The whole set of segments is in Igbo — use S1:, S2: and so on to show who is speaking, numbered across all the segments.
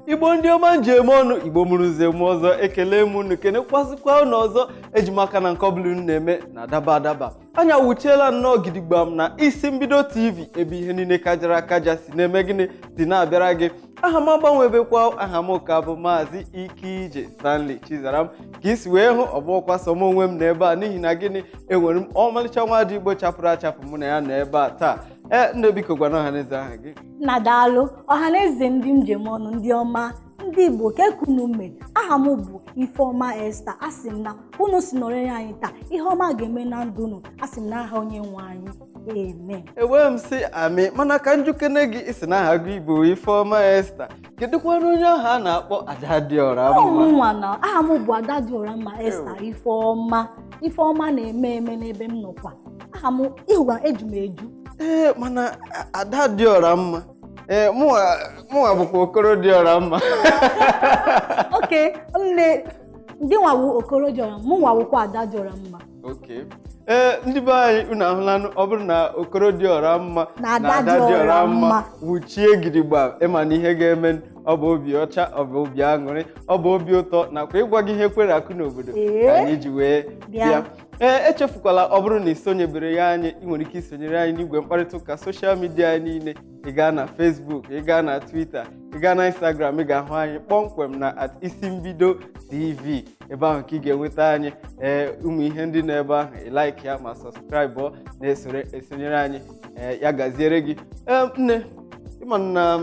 S1: igbo ndị ọma nji eme ọnụ igbo mụrụ nze mụọ ọzọ ekele m unu kenekwazikwa unu ọzọ eji m aka na nke ọbụla unu na-eme na-adaba adaba anyị awuchiela nnọọ gidigbam na isi mbido tv ebe ihe niile kajara akaja si na-eme gịnị si na-abịara gị aha m agbanwebekwa aha m ka bụ maazị ike ije stanley chizaram ka i si wee hụ ọ bụghịkwa sọ m onwe m nọ ebe a n'ihi na gịnị enwere m ọmalịcha nwada igbo chapụrụ achapụ mụ na ya nọ ebe a taa ee nne biko gwana ọha na eze aha gị nna
S2: daalụ ọha na eze ndị eji eme ọnụ ndị ọma ndị igbo kee ka unu mere aha m bụ ifeọma esther asị m na unu si nọnyere anyị taa ihe ọma ga-eme na ndụ unu asị m na aha onye nwe anyị amen ewee m sị
S1: amị mana ka m jụkene gị ị sị na aha gị bụ ifeọma esther kedụkwanụ onye ahụ a na-akpọ ada dị ọra mma ọ mụnwa na aha m bụ
S2: ada dị ọra mma esther ifeọma ife ọma na-eme eme n'ebe m nọkwa aha m ịhụwa eju m eju ee
S1: mana a- ada dị ọra mma ee mụnwa mụnwa bụkwa okoro dị ọra
S2: mma okay nna gịnwa wụ okoro dị ọra mụnwa wụkwa ada dị ọra mma
S1: Okay. ee ndị be anyị unu ahụlanụ ọ bụrụ na okoro dị ọra mma Na ada dị ọra mma. wuchie gidigba ị ma na ihe ga-eme ọ bụ obi ọcha ọ bụ obi aṅụrị ọ bụ obi ụtọ nakwa ịgwa gị ihe kwere akụ n'obodo Ee. ka anyị ji wee Bịa. bịa ee echefukwala ọ bụrụ na ị sonyebere ya anyị ị nwere ike isonyere anyị n'igwe mkparịta ụka social media anyị niile ị gaa na Facebook ị gaa na Twitter ị gaa na Instagram ị ga-ahụ anyị kpọmkwem na at isi mbido TV ebe ahụ ka ị ga-enweta anyị ee ụmụ ihe ndị nọ ebe ahụ ị like ya ma subscribe na-esore esonyere anyị ee ya gaziere gị ee nne ị ma na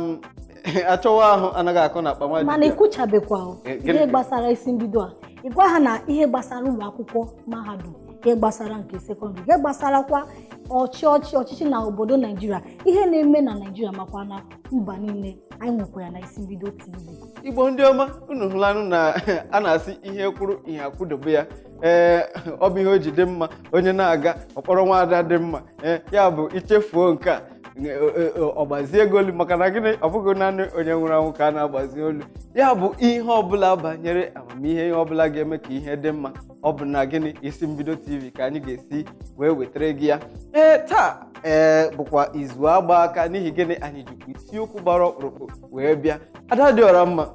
S1: achọwa ahụ anaghị akọ na akpa nwa mana dibịa. ị kwuchabekwa
S2: o. Eh, gịnị? ihe gbasara isi mbido a ị gwa ha na ihe gbasara ụlọ akwụkwọ mahadum ihe gbasara nke sekọndịrị ihe gbasarakwa ọchị ọchị ọchịchị na obodo naijiria ihe na-eme na naijiria makwa na mba niile anyị nwekwara na isi mbido tv igbo ndị
S1: ọma unu ahụlanụ na a na-asị ihe kwụrụ ihe akwụdobe ya ee ọ bụ ihe o ji dị mma onye na-aga ọ kpọrọ nwaada dị mma ee ya bụ i chefuo nke a e, e, e, ọ gbazie gị olu maka na gịnị ọ bụghị naanị onye nwụrụ anwụ ka a na-agbazi olu ya bụ ihe ọbụla banyere amamihe ihe ọbụla ga-eme ka ihe dị mma ọ bụ na gịnị isi mbido tv ka anyị ga-esi wee wetara gị ya ee taa ee bụkwa izu agba aka n'ihi gịnị anyị jikwa isiokwu gbara ọkpụrụkpụ wee bịa ada dị ọra mma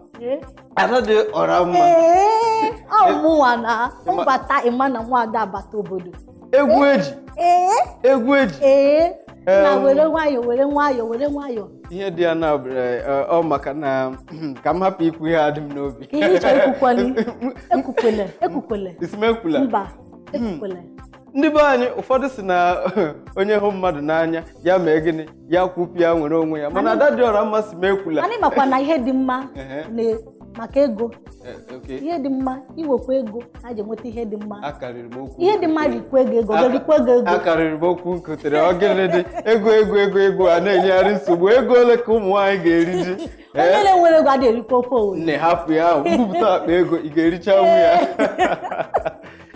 S1: ada dị ọra mma ee ọ
S2: mụnwa na Ịma- mbata ị ma na nwada abata obodo egwu
S1: eji egwu eji
S2: nna were nwayọọ were nwayọọ were nwayọọ ihe dị ya
S1: na ọ maka na ka m hapụ ikwu ihe dị m n'obi ihe ị chọ
S2: ekwukwele ekwukwele ekwukwele ị sị m
S1: ekwula mba ekwukwele
S2: ndị be anyị
S1: ụfọdụ si na onye hụ mmadụ n'anya ya mee gịnị ya kwupịa nwere onwe ya mana Adadịọramma sị m ekwula anyị makwa na ihe
S2: dị mma Ehe. na- maka ego Eh, okay. ihe dị mma i nwekwa ego e ji enweta ihe dị mma akarịrị m okwu ihe dị mma rikwa ego ego rikwa ego ego akarịrị
S1: m okwu nkotere ọ gịnị dị ego ego ego ego a na-enyegharị nsogbu ego ole ka ụmụ nwaanyị ga-eri ji onye Eh, na-enwerọ ego
S2: adịghị erikwa ofe Owere nne hapụ ya ahụ m
S1: bupụta akpa ego ị ga-erichanwu ya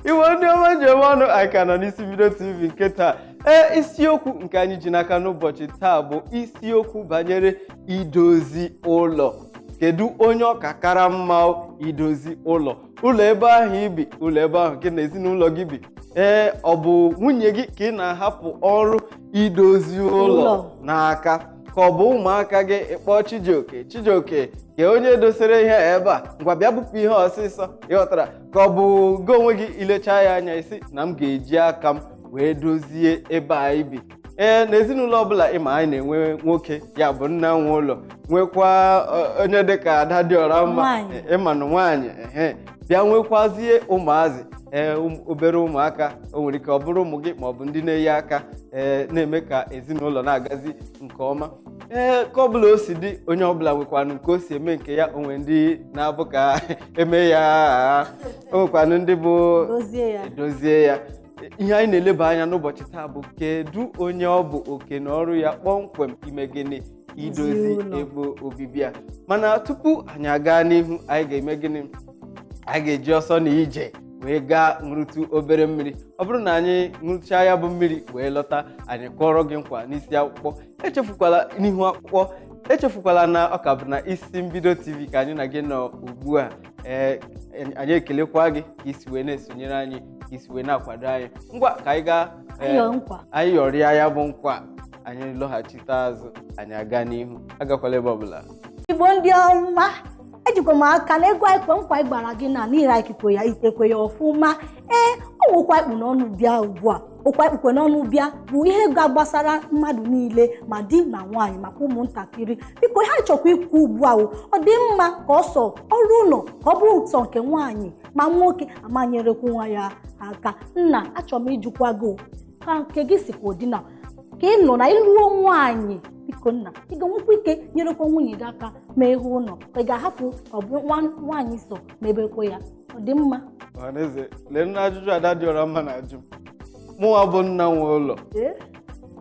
S1: Igbo ndị ọma m ji eme ọnụ anyị ka nọ n'isi mbido tv nke taa ee isiokwu nke anyị ji n'aka n'ụbọchị taa bụ isiokwu banyere idozi ụlọ kedu onye ọ ka kara mma o idozi ụlọ ụlọ ebe ahụ i bi ụlọ ebe ahụ gị na ezinụlọ gị bi ee ọ bụ nwunye gị ka ị na-ahapụ ọrụ idozi ụlọ Ụlọ. n'aka ka ọ bụ ụmụaka gị ị kpọọ chijioke chijioke ka onye dosere ihe a ebe a ngwa bịa bupụ ihe ọsịsọ ị ghọtara ka ọ bụ gị onwe gị i lechaa ya anya ị sị na m ga-eji aka m wee dozie ebe anyị bi ee na ezinụlọ ọbụla ị ma anyị na-enwe nwoke ya bụ nna nwe ụlọ nwekwa ọ, onye dịka Adadịọramma Nwaanyị. ị ma na nwaanyị ehe bịa nwekwazie ụmụazị ee ụm- obere ụmụaka o nwere ike ọ bụrụ ụmụ gị ma ọ bụ ndị na-enye aka ee na-eme ka ezinụlọ na-agazi nke ọma ee ka ọbụla o si dị onye ọbụla nwekwanụ nke o si eme nke ya o nwere ndị na-abụ ka eme ya o nwekwanụ ndị bụ dozie ya e dozie ya ihe anyị na-eleba anya n'ụbọchị taa bụ kedu onye ọ bụ oke na ọrụ ya kpọmkwem ime gịnị idozi Ezinụlọ. ebe obibi ya mana tupu anyị aga n'ihu anyị ga-eme gịnị anyị ga-eji ọsọ na ije wee gaa ṅụrụtụ obere mmiri ọ bụrụ na anyị ṅụrụchaa ya bụ mmiri wee lọta anyị akụọrọ gị nkwa n'isi akpụkpọ echefukwala n'ihu akwụkwọ echefukwala na ọ ka bụ na isi mbido tv ka anyị na gị nọ ugbu a ee anyị ekelekwa gị ka i si wee na-esonyere anyị ka i si wee na-akwado anyị ngwa ka anyị gaa ee, Anyị yọọ nkwa. anyị yọrịa ya bụ nkwa anyị lọghachite
S2: azụ
S1: anyị aga n'ihu
S2: agakwala ebe
S1: ọbụla igbo ndị
S2: ọma ejikwa m aka na egwu anyị kwe nkwa anyị gbara gị na n'ihi ikikwe ya i tekwe ya ọfụma ee okwu anyị kpụ n'ọnụ bịa ugbu a okwu anyị kpụkwa n'ọnụ bịa bụ ihe gbasara mmadụ niile ma di na nwaanyị makwa ụmụntakịrị biko ihe a chọkwa ikwu ugbu a ọ dị mma ka ọ sọ ọrụ ụlọ ka ọ bụrụ sọ nke nwaanyị ma nwoke ama nyerekwu nwaanyị aka nna achọrọ m ịjụkwa gị ka nke gị sikwa ụdị na ka ị nọ na ị lụọ nwaanyị biko nna ị ga-enwekwa ike nyerekwa nwunye gị aka ma ihe ụlọ ị ga-ahapụ ọ bụ nwaanyị sọ mebekwe ya ọ dị mma ọhaneze
S1: lee nna ajụjụ ada dị ọra mma na-ajụ m mụnwa bụ nna nwe ụlọ Ee?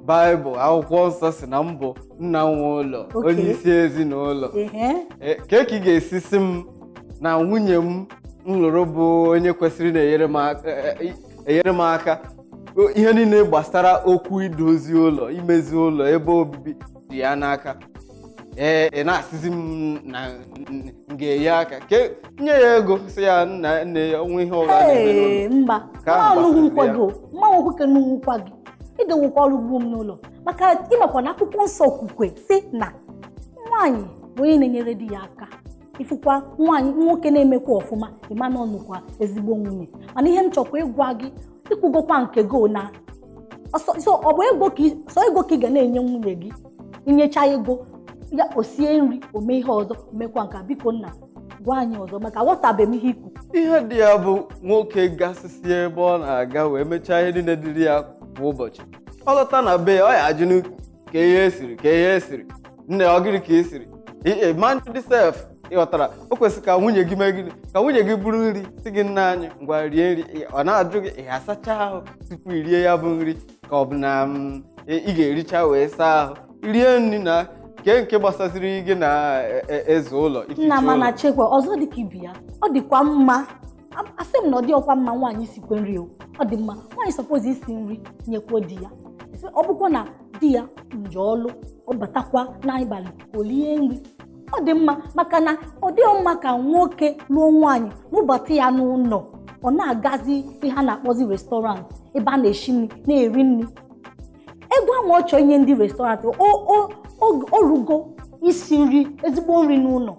S1: baịbụl akwụkwọ nsọ sị na m bụ nna nwe ụlọ Oke. onye isi ezinụlọ Ehe. Ee, ka ka ị ga-esi sị m na nwunye m m lụrụ bụ onye kwesịrị na-enyere m aka e- e- enyere m aka O- ihe niile gbasara okwu idozi ụlọ imezi ụlọ ebe obibi dị ya n'aka ee ị na-asịzi m na m ga-enye aka ke nye ya ego sị ya nna nne ya ọnwa ihe ọbụla na-eme n'ụlọ Ee, mba Ka ahụ mmanwụ gbasara
S2: nkwa ya. gị o, mmanwụ nwoke n'ugwu nkwa gị ị ga-enwekwa ọrụ ugbo m n'ụlọ maka ịmakwa na akwụkwọ nsọ o kwukwe sị na nwaanyị bụ onye na-enyere di ya aka ifụkwa nwaanyị nwoke na-emekwa ọfụma ị ma na ọ nụkwa ezigbo nwunye mana ihe m chọkwa ịgwa gị i kwugokwa nke gị o na ọ sọsọ ọ bụ ego ka ị- sọ ego ka ị ga na-enye nwunye gị i nyecha ego ya o sie nri o mee ihe ọzọ mekwa nke a biko nna gwa anyị ọzọ maka aghọtabeghị m ihe i kwu ihe dị ya bụ
S1: nwoke gasịsị ebe ọ na-aga wee mechaa ihe niile dịrị ya kwa ụbọchị ọ lọta na be ya ọ ya ajụnụ ka ihe esiri ka ihe esiri nne ọ gịnị ka e siri mandị sef ị ghọtara o kwesịrị ka nwunye gị mee gịnị ka nwunye gị buru nri sị gị nna anyị ngwa rie nri Ị- ọ na-ajụ gị ị asacha ahụ tupu i rie ya bụ nri ka ọ bụ na mm, ị ị ga-ericha wee saa ahụ rie nri na kee nke gbasaziri gị na e- e- ịza ụlọ ificha nna ma ụlọ. na chekwa
S2: ọzọ dị ka ibe ya ọ dịkwa mma A- asị m na ọ dịọkwa mma nwaanyị sikwe nri o ọ dị mma nwaanyị suppose isi nri nyekwuo di ya Sị, ọ bụkwa na di ya nje ọlụ ọ batakwa n'abalị o lie nri ọ dị mma maka na ọ dịghị mma ka nwoke lụọ nwaanyị lụbata ya n'ụlọ ọ na-agazi ihe a na-akpọzi restaurant ebe a na-eshi nri na-eri nri ego ahụ ọ chọọ inye ndị restaurant o rugo isi nri ezigbo nri n'ụlọ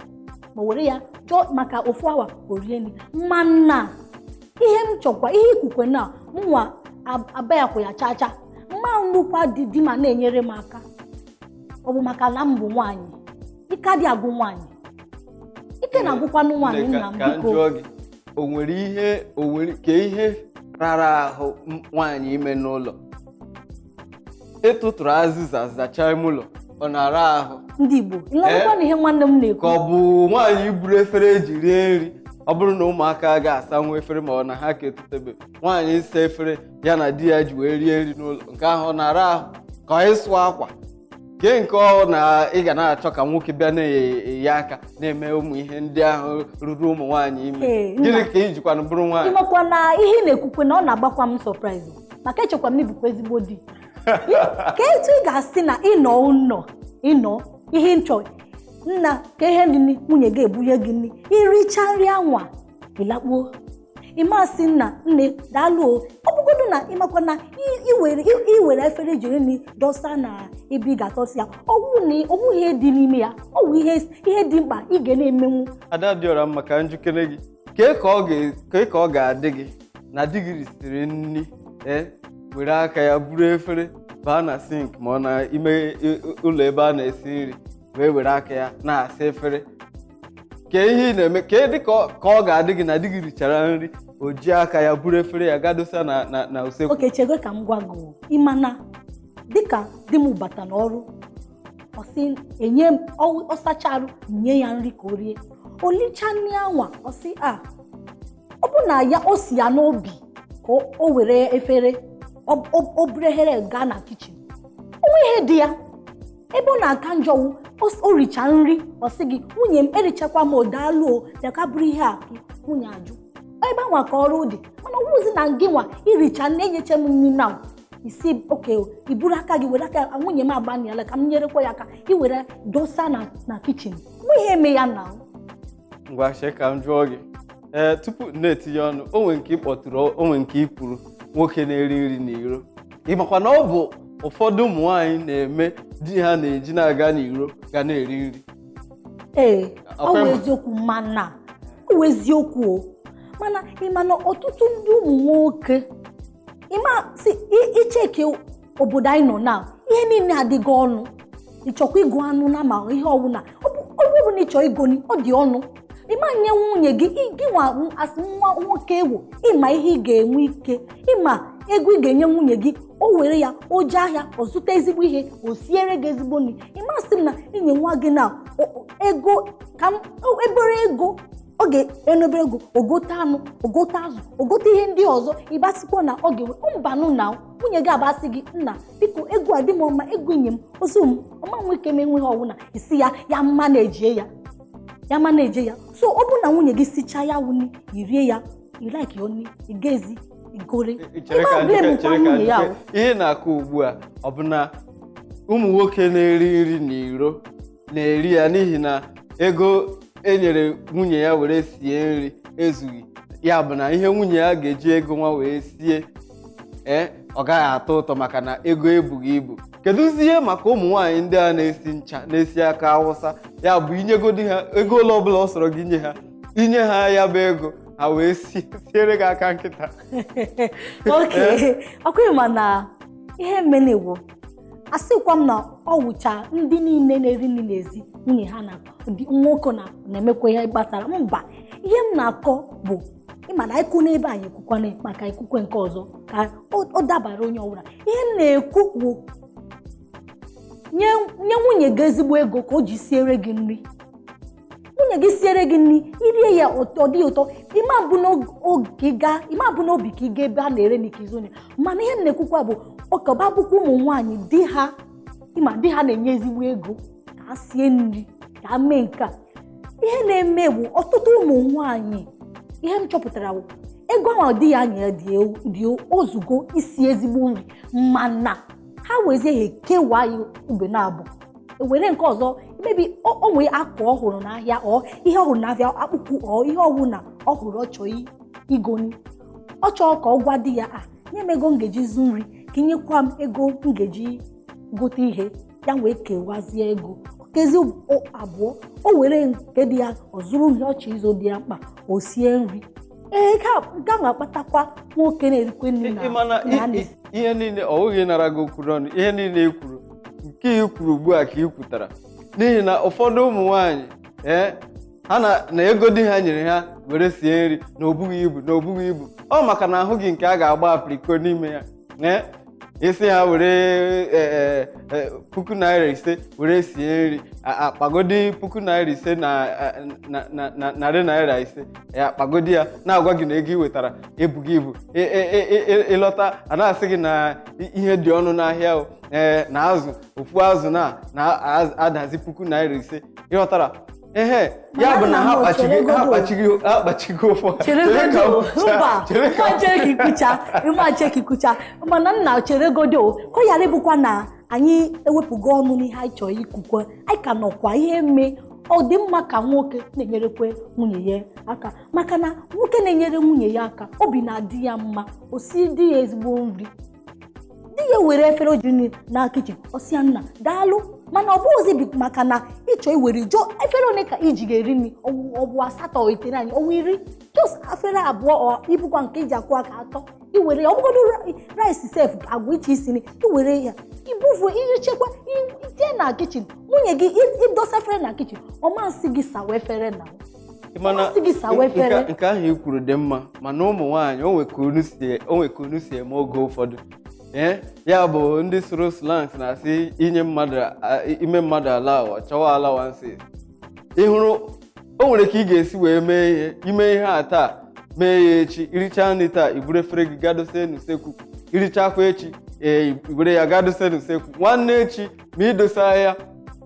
S2: ma were ya chọọ maka ofu awa o rie nri mana ihe m chọkwa ihe ikwukwe na mụnwa abayakwụ ya chaa chaa mma nnukwu di di ma na-enyere m aka ọ bụ maka na m bụ nwaanyị ike adị agwụ nwaanyị ike na-agwụkwanụ nwaanyị nna m biko o nwere
S1: ihe o nwere ka ihe rara ahụ nwaanyị ime n'ụlọ ịtụtụrụ azịza zachaa ime ụlọ ọ na-ara ahụ ndị Igbo
S2: ịlọrọkwa na ihe nwanne m na-ekwu ka ọ bụ
S1: nwaanyị buru efere e ji rie nri ọ bụrụ na ụmụaka ga-asanwu efere ma ọ na ha ka etotebe nwaanyị ịsa efere ya na di ya ji wee rie nri n'ụlọ nke ahụ ọ na-ara ahụ ka ọ ịsụ akwa kee nke ọ na ị ga na-achọ ka nwoke bịa na-enye aka na-eme ụmụ ihe ndị ahụ ruru ụmụ nwaanyị ime Ee, nna. gịnị ka i jikwanụ bụrụ nwaanyị ị makwa na ihe ị
S2: na-ekwukwe na ọ na-agbakwa m surprise maka echekwa m na ị bụkwa ezigbo di ka etu ị ga-asị na ị nọ ụnọ ị nọ ihe nchọ nna ka ihe nri nwunye ga-ebunye gị nri i richa nri anwa ị lakpuo ị ma sị nna nne daalụ o ọ bụgodu na ị makwa na i- i were i- i were efere e ji rie nri dọsa na ebe ị ga-adọsa ya ọ wụ na ọ wụ ihe dị n'ime ya ọ wụ ihe ihe dị mkpa ị ga na-emenwu Adadịọramma ka
S1: m jụkene gị kee ka ọ ga- kee ka ọ ga-adị gị na di gị risịrị nri ee were aka ya buru efere baa na sink ma ọ na ime i- ụlọ ebe a na-esi nri wee were aka ya na-asa efere kee ihe ị na-eme kee dị ka ọ- ka ọ ga-adị gị na di gị richara nri o ji aka ya buru efere ya ga dọsa na na na usekwu okay chego ka m gwa gị
S2: o. ị ma na dịka di m bata n'ọrụ ọ sị enye m ọ- ọ sachaa arụ nye ya nri ka o rie o licha nri anwa ọ sị a ọ bụ na ya o si ya n'obi ka o- o were efere ọ- o o buru efere gaa na kitchen o nweghị ihe dị ya ebe ọ na-aka njọ wụ o richa nri ọ sị gị nwunye m erichakwa m o daalụ o bịa ka buru ihe a nwunye ajụ ebe anwa ka ọrụ dị mana ọ wụzi na gị nwa i richa na e nyecha m nri na i si okay i buru aka gị were aka nwunye m agbanịala ka m nyerekwa ya aka i were dọsa na kitchen mụ ihe eme ya na ngwa
S1: chee ka m jụọ gị ee tupu nna etinye ọnụ o nwe nke ị kpọtụrụ o nwe nke i kwuru nwoke na-eri nri n'iro ị makwa na ọ bụ ụfọdụ ụmụ nwaanyị na-eme di ha na-eji na-aga n'iro ga na-eri nri ee Ọkwa ị
S2: ma. ọ bụ eziokwu mana ọ bụ eziokwu o mana ị ma na ọtụtụ ndị ụmụ nwoke ị ma si i- i cheke obodo anyị nọ na ihe niile adịgo ọnụ ị chọkwa igo anụ na ma ihe ọbụla ọ bụ na ị chọ igoni ọ dị ọnụ ị ma nye nwunye gị gị nwa as nwa nwoke ị wụ ị ma ihe ị ga-enwe ike ị ma ego ị ga-enye nwunye gị o were ya o jee ahịa ọ zụta ezigbo ihe o siere gị ezigbo nri ị ma asị m na i nye nwaanyị ego ka m obere ego ọ ga na obere ego o gote anụ o gote azụ o gote ihe ndị ọzọ ị bịa sịkwa na ọ ga-enwe mbanụ na nwunye gị abịa sị gị nna biko ego a dị m ọ ma ego i nye m o zu m ọ ma nwe ike menwu ihe ọwụna ị sị ya ya manage ya ya manage ya so ọ bụrụ na nwunye gị sichaa ya wunye i rie ya i like ya oni ị gazi igori chere ka Ebe a njike- chere ka nwunye ya
S1: njike. ahụ. ihe ị na-akọ ugbu a ọ bụ na ụmụ nwoke na-eri nri n'iro na-eri ya n'ihi na ego e nyere nwunye ya were sie nri ezughị ya bụ na ihe nwunye ya ga-eji ego nwa wee sie ee ọ gaghị atọ ụtọ maka na ego ebughị ibu kedụzie maka ụmụ nwaanyị ndị a na-esi ncha na-esi aka awụsa ya bụ i nyegodi ha ego ole ọbụla ọ sọrọ gị nye ha i nye ha ya bụ ego ha wee si siere gị aka nkịta
S2: oke ọkwa ya mana ihe m na-ekwu asịkwa m na ọ wụcha ndị niile na-eri nri n'ezi nwunye ha na nwoke na-emekwa ihe gbasara mba ihe m na-akọ bụ ị ma na ikwu n'ebe anyị ekwukwana maka ekwukwe nke ọzọ ka ọ- ọ dabara onye ọbụla ihe m na-ekwu bụ nye nye nwunye gị ezigbo ego ka o ji siere gị nri nwunye gị siere gị nri i rie ya ọ ọ dị ụtọ ị ma bu n'obi ka ị ma bu n'obi ka ị ga ebe a na-ere nri ka ị zụọ ya mana ihe m na-ekwukwa bụ ọ kaba bụkwa ụmụ nwaanyị di ha ị ma di ha na-enye ezigbo ego ka ha sie nri ka ha mee nke a ihe na-eme bụ ọtụtụ ụmụ nwaanyị ihe m chọpụtara bụ ego ahụ di ya nyere dị ewu- dị o zugo isi ezigbo nri mana ha wezie ha ekewa ya ibe n'abụọ were nke ọzọ maybe o o nwee akwa ọ hụrụ n'ahịa or ihe ọ hụrụ n'ahịa akpụkpụ or ihe ọwụna ọ hụrụ ọ chọọ i- igoni ọ chọọ ka ọ gwa di ya a nye m ego m ga-eji zụ nri ka ị nyekwa m ego m ga-eji gote ihe ya wee kewazie ego kezi abụọ o were nke dị ya ọ zụrụ ihe ọ chọ ịzụ dị ya mkpa o sie nri ee ga na-akpatakwa nwoke na-erikwe nri na ịmana na ndị ihe niile
S1: ọ bụghị ịnara gị okwu n'ọnụ ihe niile i kwuru nke i kwuru ugbu a ka i kwutara n'ihi na ụfọdụ ụmụ nwaanyị ee ha na na ego di ha nyere ha were sie nri na o bughị ibu na o bughị ibu ọ maka na ahụghị nke a ga-agba apriko n'ime ya ee ị sị ha were e, e, e, puku naira ise were sie nri a- akpagodi puku naira ise na a- na- na- na- narị naira ise ya akpagodi ya na-agwa gị na ego ị wetara ebughị ibu Ị- ị- ị- ị- ị- ị lọta a na-asị gị na i- ihe dị ọnụ n'ahịa o ee na azụ ofu azụ na na-adazi puku naira ise ị ghọtara ehe ya bụ na ha kpachigo ha kpachigo ha kpachigo
S2: ụfọ chere ka i kwuchaa mana nna cheregodo ka ọ ghara ịbụkwa na anyị ewepụgo ọnụ n'ihe anyị chọrọ ikwukwe anyị ka nọkwa ihe mee ọ dị mma ka nwoke na-enyerekwe nwunye ya aka maka na nwoke na-enyere nwunye ya aka obi na-adị ya mma o si di ya ezigbo nri di ya were efere o jee na kichin ọ sị ya nna daalụ mana ọ bụghịzi bi- maka na ị chọọ i were jụọ efere ole ka i ji ga-eri nri ọwụ- ọ bụ asatọ o itenaanị ọ wụ iri just efere abụọ ọ i bukwa nke i ji akwọ aka atọ i were ya ọ bụgodo rice sef agwa iche isi nri i were ya ibufu ihe chekwa i- itinye na kichin nwunye gị i- i dosa efere na kichin ọ masị gị sawa efere na mana Ọ sị gị sawa nke-
S1: efere. nke ahụ i kwuru dị mma mana ụmụ nwaanyị o nwe ka unu si- o nwe ka unu si eme oge ụfọdụ ee ya bụ ndị sụrụ slangs na-asị inye mmadụ a- ime mmadụ allow ọ chọwa allowance ị hụrụ o nwere ka ị ga-esi wee mee ihe ime ihe a taa mee ya echi irichaa nri taa iburu efere gị gaa dose n'usekwu irichakwa echi ee iburu ya gaa dose n'usekwu nwanne echi ma idosa ya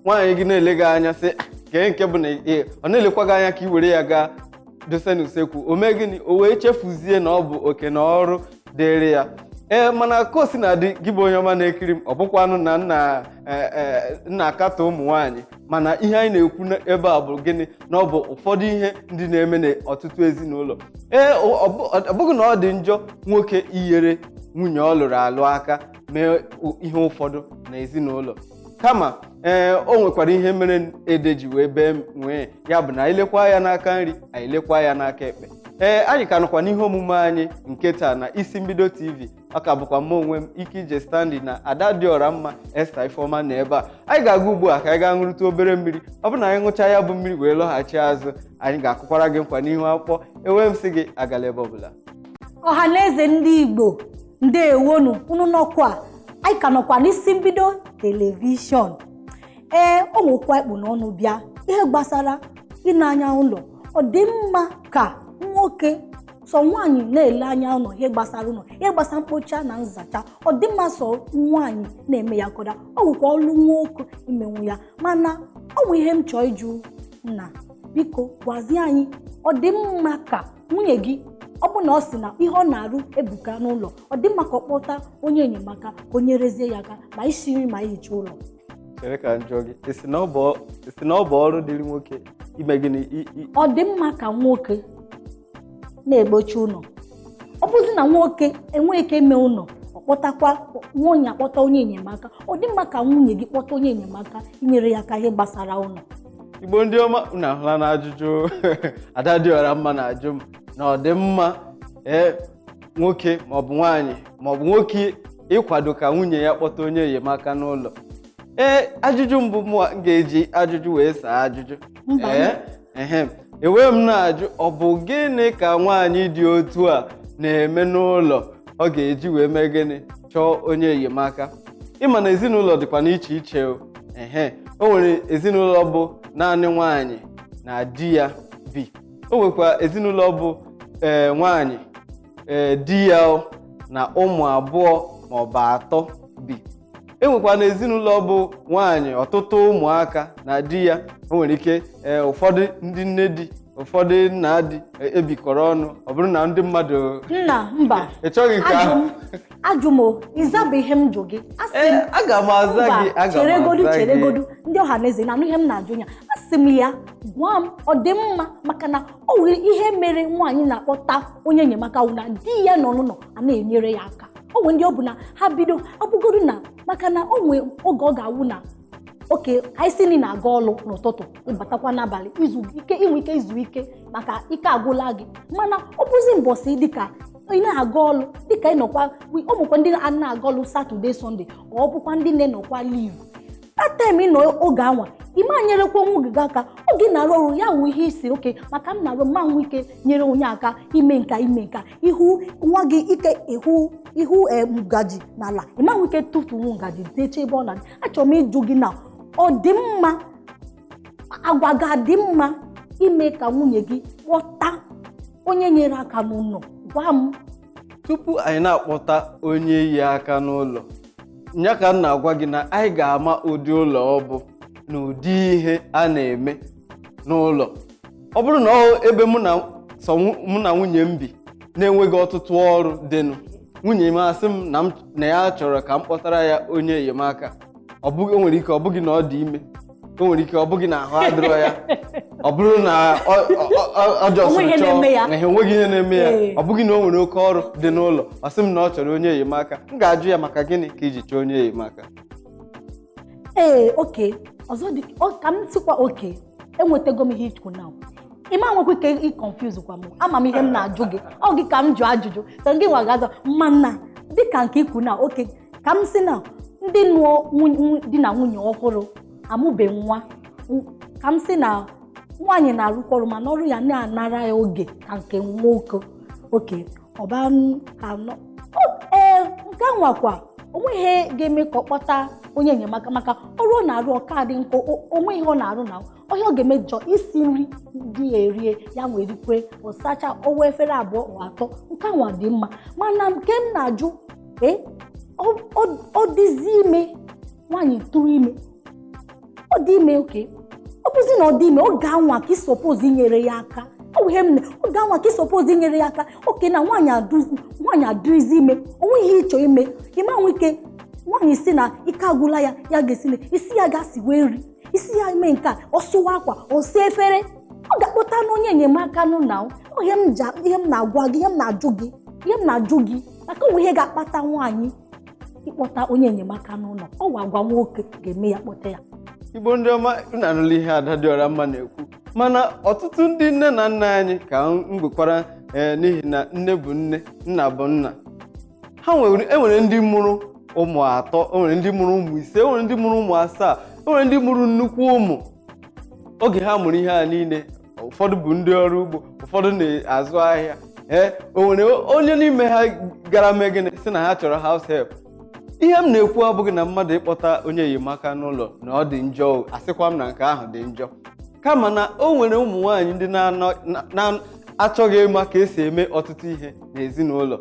S1: nwaanyị gị na-ele gị anya sị "Ah, kee nke bụ na ị- ọ na-elekwa gị anya ka i were ya gaa dosa n'usekwu o mee gịnị o wee chefuzie na ọ bụ oke na ọrụ dịrị ya ee mana ka o sina dị gị bụ onye ọma na-ekiri m ọ bụkwanụ na m na- eh, eh, m na-akatọ ụmụ nwaanyị mana ihe anyị na-ekwu na- ebe a bụ gịnị na ọ bụ ụfọdụ ihe ndị na-eme n'ọtụtụ ezinụlọ ee ọ ọ bụ- ọ bụghị na ọ dị njọ nwoke inyere nwunye ọ lụrụ alụ aka mee u- ihe ụfọdụ na ezinụlọ kama ee o nwekwara ihe mere ede ji wee bee nwii ya bụ na anyị lekwa ya n'aka nri anyị lekwa ya n'aka ekpe ee anyị ka nọkwa n'ihe omume anyị nke taa na isi mbido tv ọ ka bụkwa mụ onwe m ikeije stanley na ada dị ọra mma esther ifeọma na ebe a anyị ga-aga ugbu a ka anyị gaa ṅụrụta obere mmiri ọ bụrụ na anyị ṅụchaa ya bụ mmiri wee lọghachi azụ anyị ga-akụkwara gị nkwa n'ihu akwụkwọ ewe m sị gị agala ebe ọbụla ọha na
S2: eze ndị igbo ndewonu unu nọkwa anyị ka nọkwa n'isi mbido telivishọn ee o nwekwa ihe e kpu n'ọnụ bịa ihe gbasara ine anya ụlọ ọ dị mma ka nwoke sọ nwaanyị na-ele anya ụlọ ihe gbasara ụlọ ihe gbasara mkpocha na nzacha ọ dị mma sọ nwaanyị na-eme ya ka ọ dị o nwekwa ọlụ nwoke imenwu ya mana o nwe ihe m chọọ ịjụ nna biko gwazie anyị ọ dị mma ka nwunye gị ọ bụ na ọ sị na ihe ọ na-arụ ebuka n'ụlọ ọ dị mma ka ọ kpọta onye enyemaka ka o nyerezie ya aka ma isi nri ma ihicha ụlọ chere ka m
S1: jụọ gị ị sị na ọ bụ ọ- ị sị na ọ bụ ọrụ dịrị nwoke ime gịnị i- i- ọ dị mma
S2: ka nwoke na-ekpocha ụlọ ọ bụzi na nwoke enweghị ike ime ụlọ ọ kpọtakwa nwunye ya kpọta onye enyemaka ọ dị mma ka nwunye gị kpọta onye enyemaka inyere ya aka ihe gbasara ụlọ igbo ndị
S1: ọma unu ahụla na ajụjụ ada dị ọra mma na-ajụ m na ọ dị mma ee nwoke maọbụ nwaanyị maọbụ nwoke ịkwado ka nwunye ya kpọta onye enyemaka n'ụlọ ee ajụjụ mbụ mụwa m ga-eji ajụjụ wee saa ajụjụ Mba. ee ehe ewe m na-ajụ ọ bụ gịnị ka nwaanyị dị otu a na-eme n'ụlọ ọ ga-eji wee mee gịnị chọọ onye enyemaka ị ma na ezinụlọ dịkwa n'iche iche o ehe o nwere ezinụlọ bụ naanị nwaanyị na di ya bi o nwekwa ezinụlọ bụ ee nwaanyị ee di ya o, na ụmụ abụọ maọbụ atọ bi e nwekwa na ezinụlọ bụ nwaanyị ọtụtụ ụmụaka na di ya o nwere ike ee ụfọdụ ndị nne di ụfọdụ nna di ebikọrọ ọnụ ọ bụrụ na ndị mmadụ nna mba
S2: ị chọghị nke ajụ ahụ
S1: m ajụ m o
S2: ịzabụ ihe m jụ gị a sị m Ee, aga m aza
S1: mba gị aga m cheregodu aza gị cheregodu
S2: ndị ọha na eze na-anụ ihe m na-ajụ ya a sị m ya gwa m ọ dị mma maka na o nwere ihe mere nwaanyị na-akpọta onye enyemaka wụ na di ya nọ n'ụlọ a na-enyere ya aka o nwere ndị ọ bụ na ha bido abụgodu na maka na o nwee oge ọ ga-awụ na okay anyị si na ị na-aga ọlụ n'ụtụtụ ị batakwa n'abalị i nwe ike izu ike maka ike agwụla gị mana ọ bụzi mbọsị dịka ị na-aga ọlụ dịka ị nọkwa ọ bụkwa ndị a na-aga ọlụ Saturday Sunday ọ bụkwa ndị na-enọkwa leave that time ị nọ oge anwa ị ma nyerekwa nwunye gị aka oge ị na-arụ ọrụ ya wụ ihe i si okay maka m na-arụ m ma nwe ike nyere nwunye aka ime nka ime nka ihu nwa gị ike ihu eh, ị hụ ngaji n'ala ị ma nwe ike tụtụnwu ngaji deche ebe ọ na-adị achọrọ m ịjụ gị na ọ dị mma agwa ga-adị mma ime ka nwunye gị kpọta onye nyere aka n'ụlọ gwa m tupu
S1: anyị na-akpọta onye inye aka n'ụlọ ya ka m na-agwa gị na anyị ga-ama ụdị ụlọ ọ bụ na ụdị ihe a na-eme n'ụlọ ọ bụrụ na ọ ebe mụ na sọ nwu- mụ na nwunye m bi na-enweghị ọtụtụ ọrụ dịnụ nwunye m asị m na m na ya chọrọ ka m kpọtara ya onye enyemaka ọ bụghị o nwere ike ọ bụghị na ọ dị ime o nwere ike ọ bụghị na ahụ adịrọ ya ọ bụrụ na ọ- ọ- ọ- ọ just O nwe ihe chọọ na-eme ya. na ihe enweghị ihe na-eme ya Ee. ọ bụghị na o nwere oke ọrụ dị n'ụlọ ọ sị m na ọ chọrọ onye enyemaka m ga-ajụ ya maka gịnị ka i ji chọọ onye enyemaka
S2: ee okay ọzọ dị ọ- ka m sikwa okay enwetago m ihe i kwu na ị ma nwekwa ike ị confuse kwa m ama m ihe m na-ajụ gị ọ gị ka m jụ ajụjụ so gị nwa ga-aza o mana dịka nke i kwu na okay ka m si na ndị nụọ nwun- nwu- di na nwunye ọhụrụ amụbe nwa m- ka m si na nwaanyị na-arụkwa ọrụ mana ọrụ ya na-anara ya oge ka nke nwoke okay ọba m anọ O, ee nke a nwakwa o nweghị ihe ga-eme ka ọ kpọta onye enyemaka maka ọrụ ọ na-arụ ọ ka dị nkọ o- o nwe ihe ọ na-arụ na ihe ọ ga-eme just isi nri di ya erie ya nwa rikwe ọ sacha ọwa efere abụọ or atọ nke nwa dị mma mana nke m na-ajụ ee ọ- ọ- ọ dịzi ime nwaanyị tụrụ ime ọ dị ime okay ọ bụzi na ọ dị ime oge anwa ka i suppose inyere ya aka ọ bụ ihe m na oge anwa ka i suppose inyere ya aka okay na nwaanyị adụzi nwaanyị adịrịzi ime o nwe ihe ị chọ ime ị ma nwe ike nwaanyị si na ike agwụla ya ya ga-esi na isi ya ga-esiwe nri isi ya mee nke a ọ sụwa akwa ọ saa efere ọ ga-akpọtanụ onye enyemaka n'ụnọ ihe m ji ihe m na-agwa gị ihe m na-ajụ gị ihe m na-ajụ gị maka o nwe ihe ga-akpata nwaanyị ịkpọta onye enyemaka n'ụlọ ọ wụ agwa nwoke ga-eme ya kpọta ya
S1: igbo ndị ọma unu anụla ihe ada dị ọra mma na-ekwu mana ọtụtụ ndị nne na nna anyị ka m gwekwara ee n'ihi na nne bụ nne nna bụ nna ha nwere enwere ndị mụrụ ụmụ atọ enwere ndị mụrụ ụmụ ise enwere ndị mụrụ ụmụ asaa enwere ndị mụrụ nnukwu ụmụ oge ha mụrụ ihe a niile ụfọdụ bụ ndị ọrụ ugbo ụfọdụ na-azụ ahịa ee o nwere onye n'ime ha gara mee gịnị sị na ha chọrọ house help ihe m na-ekwu abụghị na mmadụ ịkpọta onye enyemaka n'ụlọ na ọ dị njọ o, asịkwa m na nke ahụ dị njọ kama na o nwere ụmụ nwaanyị ndị na-anọ- na- na-achọghị ịma ka esi eme ọtụtụ ihe n'ezinụlọ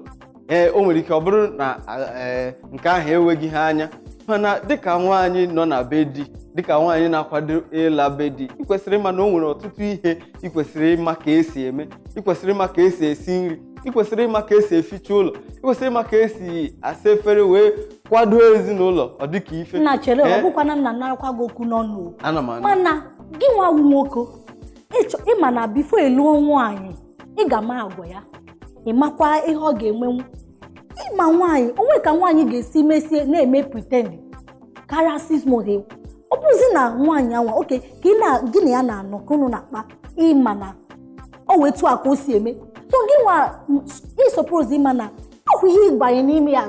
S1: ee o nwere ike ọ bụrụ na ee nke ahụ eweghị ha anya mana dịka nwaanyị nọ na be di dịka nwaanyị na-akwado ịla be di ị kwesịrị ịma na o nwere ọtụtụ ihe ị kwesịrị ịma ka esi eme ị kwesịrị ịma ka esi esi nri ị kwesịrị ịma ka esi eficha ụlọ ị kwesịrị ịma ka esi asa efere wee kwado ezinụlọ ọ dịka ife m na-echere ọ Ee, bụkwana
S2: m na-anarakwa gị okwu n'ọnụ o. ana m anụ mana
S1: gị nwa
S2: wu nwoke ịchọ ịma na before ị lụọ nwaanyị ị ga-ama agwa ya ị makwa ihe ọ ga-emenwu ịma nwaanyị o nwe ka nwaanyị ga-esi mesie na-eme pretend karịa six months ọ bụzi na nwaanyị anwa oke ka ị na gị na ya na-anọ ka unu na-akpa ịma na ọ wụ etu a ka o si eme so gị nwa ị suppose ịma na ọ wụ ihe ị ga-abanye n'ime ya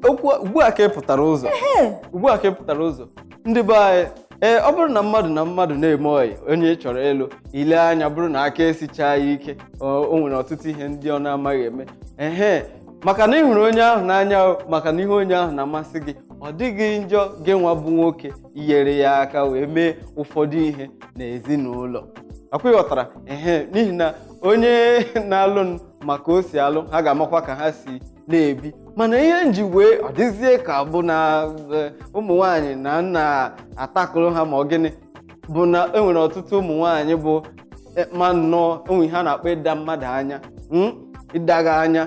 S2: ọ
S1: wụ ugbu a ka ị pụtara ụzọ ee ugbu a ka ị pụtara ụzọ ndị be anyị ee ọ bụrụ na mmadụ na mmadụ na-eme ọyị onye ị chọrọ ịlụ i lee anya bụrụ na aka esichaa ya ike o o nwere ọtụtụ ihe ndị ọ na-amaghị eme ehe maka na ị hụrụ onye ahụ n'anya o, maka na ihe onye ahụ na-amasị gị ọ dịghị njọ gị nwa bụ nwoke inyere ya aka wee mee ụfọdụ ihe n'ezinụlọ ọkwa ị ghọtara ehe n'ihi na onye na-alụ ma ka o si alụ ha ga-amakwa ka ha si na-ebi mana ihe m ji wee ọ dịzie ka bụ na eh, ụmụ nwanyị na m na-atakụrụ ha ma ọ gịnị bụ na enwere ọtụtụ ụmụ nwanyị bụ eh, ma na o nwe ihe a na-akpọ ịda mmadụ anya mm, ịda gị anya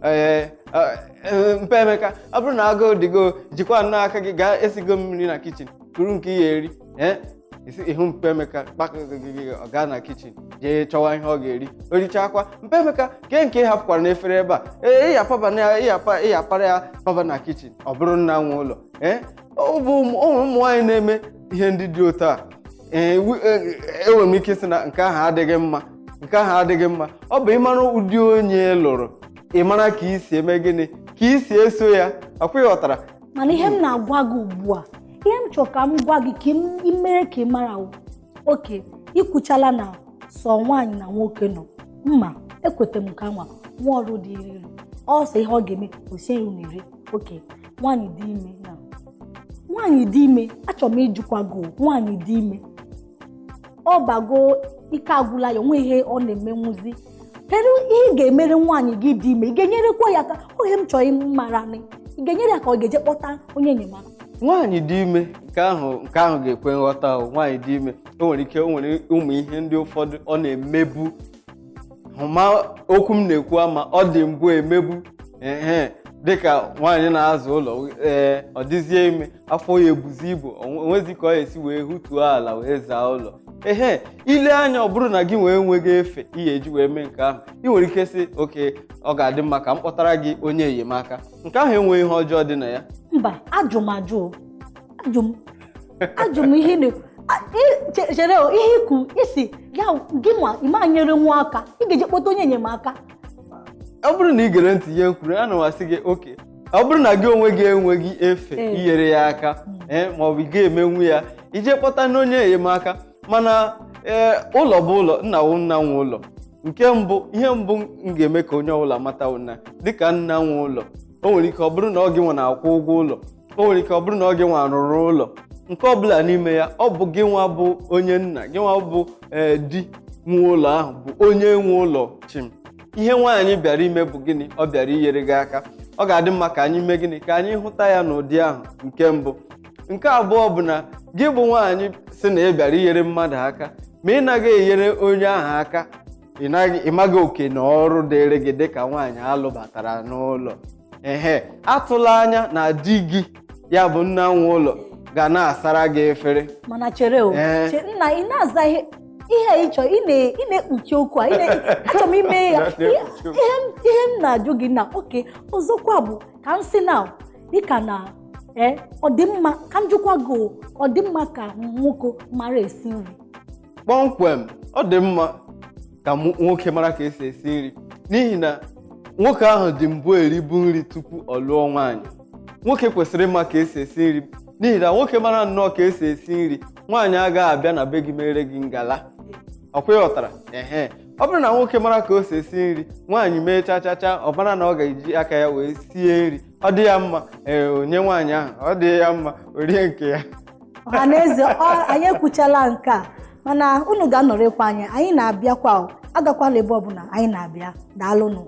S1: ee eh, eh, mpa emeka ọ bụrụ na agụụ dịgo jikwa nnọọ aka gị gaa esigo m nri na kitchen kuru nke ị ya-eri ee ị hụ mpa emeka kpakagịgị ọ gaa na kitchen jee chọwa ihe ọ ga-eri o richakwa mpa emeka kee nke ị hapụkwara n'efere ebe a ee ị ya-apaba na ya ị ya-apa ị ya-apara ya paba na kitchen ọ bụrụ nna nwe ụlọ ee ọ bụ ụmụ ụmụ nwaanyị na-eme ihe ndị dị otu a ee wi- e- enwere m ike ịsị na nke ahụ adịghị mma nke ahụ adịghị mma ọ bụ ịmara ụdị onye ị lụrụ ị mara ka i si eme gịnị ka i si eso ya ọkwa ị ghọtara mana ihe m
S2: na-agwa gị ugbu a ihe m chọrọ ka m gwa gị ka ị mere ka ị mara wụ, okay i kwuchala na sọ nwaanyị na nwoke nọ mma ekweta m ka nwa nwa ọrụ dịịrị ọ sọ ihe ọ ga-eme o siere unu nri okay nwaanyị dị ime na nwaanyị dị ime achọrọ m ịjụkwa gị o, nwaanyị dị ime ọ bago ike agwụla ya o nwe ihe ọ na-emenwuzi kedu ihe ị ga-emere nwaanyị gị dị ime ị ga-enyerekwa ya aka ọ ihe m chọrọ ịmara nị ị ga-enyere ya ka ọ ga-eje kpọta onye enyemaka nwaanyị dị ime
S1: nke ahụ nke ahụ ga-ekwe nghọta ahụ nwaanyị dị ime o nwere ike o nwere ụmụ ihe ndị ụfọdụ ọ na-emebu ị ma okwu m na-ekwu ama ọ dị mbụ emebu ehe dịka nwaanyị na-aza ụlọ ee ọ dịzie ime afọ ya ebuzi ibu o nwezi ka ọ ya-esi wee hutuo ala wee zaa ụlọ ehe i le anya ọ bụrụ na gị nwa enweghị efe ị ya-eji wee mee nke ahụ ị nwere ike sị okay ọ ga-adị mma ka m kpọtara gị onye enyemaka nke ahụ enweghị ihe ọjọọ dị na ya mba ajụ m
S2: ajụ o. ajụ m ajụ m ihe na- a- i- che- chere o, ihe i kwu ị sị ya gị nwa ị ma enyere nwa aka ị ga-eje kpọta onye enyemaka ọ
S1: bụrụ na ị gere ntị ihe m kwuru ana m asị gị okay ọ bụrụ na gị onwe gị enweghị efe Ee. inyere ya aka Mm. ee ma ọ bụ ị ga-emenwu ya i jee kpọtanụ onye enyemaka mana ee ụlọ bụ ụlọ nna wụ nna nwe ụlọ nke mbụ ihe mbụ m ga-eme ka onye ọbụla mata wụ na dịka nna nwe ụlọ o nwere ike ọ bụrụ na ọ gị nwa na-akwụ ụgwọ ụlọ o nwere ike ọ bụrụ na ọ gị nwa rụrụ ụlọ nke ọbụla n'ime ya ọ bụ gị nwa bụ onye nna gị nwa bụ ee di nwe ụlọ ahụ bụ onye nwe ụlọ chim ihe nwaanyị bịara ime bụ gịnị ọ bịara inyere gị aka ọ ga-adị mma ka anyị mee gịnị ka anyị hụta ya n'ụdị ahụ nke mbụ nke abụọ bụ na gị bụ nwaanyị sị na ị bịara inyere mmadụ aka ma ị naghị enyere onye ahụ aka ị naghị- ị maghị oke na ọrụ dịịrị gị dịka nwaanyị alụbatara n'ụlọ ehe atụla anya na di gị ya bụ nna nwe ụlọ ga na-asara gị efere mana chere o
S2: Ee. che- nna ị na-aza ihe ihe a ị chọrọ ị na- ị na-ekpuchi okwu a ị na- achọrọ m ime ya Na-ekpuchi ihe okwu. ihe m- ihe m na-ajụ gị na okay ọzọkwa bụ ka m sị na dịka na ee ọ dị mma ka m jụkwa gị o, ọ dị mma ka nwoke mara esi nri
S1: kpọmkwem ọ dị mma ka mụ- nwoke mara ka e si esi nri n'ihi na nwoke ahụ dị mbụ eribu nri tupu ọ lụọ nwaanyị nwoke kwesịrị ịma ka e si esi nri n'ihi na nwoke mara nnọọ ka e si esi nri nwaanyị agaghị abịa na be gị meere gị ngala ọkwa ị ghọtara ehe ọ bụrụ na nwoke mara ka o si esi nri nwaanyị mee cha cha cha ọ mara na ọ ga-eji aka ya wee sie nri ọ dị ya mma ee onye nwaanyị ahụ ọ dị ya mma o rie nke ya ọha na
S2: eze anyị ekwuchala nke a mana unu ga-anọrịkwa anyị anyị na-abịakwa agakwala ebe ọbụla anyị na-abịa daalụnụ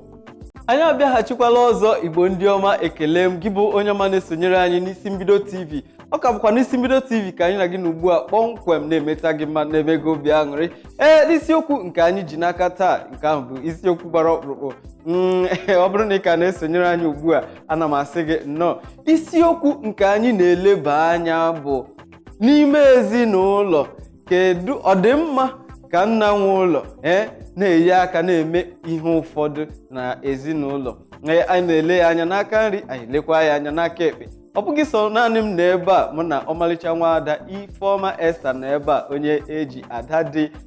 S2: anyị
S1: abịaghachikwala ọzọ igbo ndị ọma ekele m gị bụ onye ọma na-esonyere anyị n'isi mbido tv ọ ka bụkwa n'isi mbido tv ka anyị na gị nọ ugbu a kpọmkwem na-emeta gị mma na-eme gị obi aṅụrị ee n'isiokwu nke anyị ji n'aka taa nke ahụ bụ isiokwu gbara ọkpụrụkpụ mm, ọ bụrụ na ị ka na-esonyere anyị ugbu a ana m asị gị nnọọ isiokwu nke anyị na-eleba anya bụ n'ime ezinụlọ kedu ọ dị mma ka nna nwe ụlọ ee na-enye aka na-eme ihe ụfọdụ na ezinụlọ Ee, anyị na-ele ya anya n'aka nri anyị lekwa ya anya n'aka ekpe ọ bụghị sọ naanị m nọ ebe a mụ na ọmalịcha nwaada ifeọma Esther nọ ebe a onye eji ada dị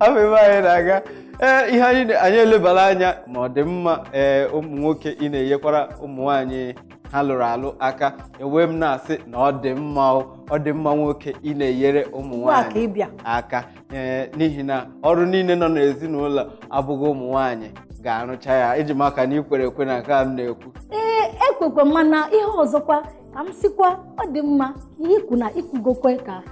S1: afọ ebe anyị na-aga ee ihe anyị anyị elebara anya ma ọ dị mma ee ụmụ nwoke ị na-enyekwara ụmụ nwaanyị ha lụrụ alụ aka ewee m na-asị na ọ dị mma o, ọ dị mma nwoke ị na-enyere ụmụ Ugbu a ka nwaanyị ị bịa. aka ee n'ihi na ọrụ niile nọ n'ezinụlọ abụghị ụmụ nwaanyị ga-arụcha ya eji m aka na i kwere ekwe na nke a m na-ekwu ee ekwekwe
S2: mana ihe ọzọkwa ka m sikwa ọ dị mma ihe i kwu na i kwugokwe ka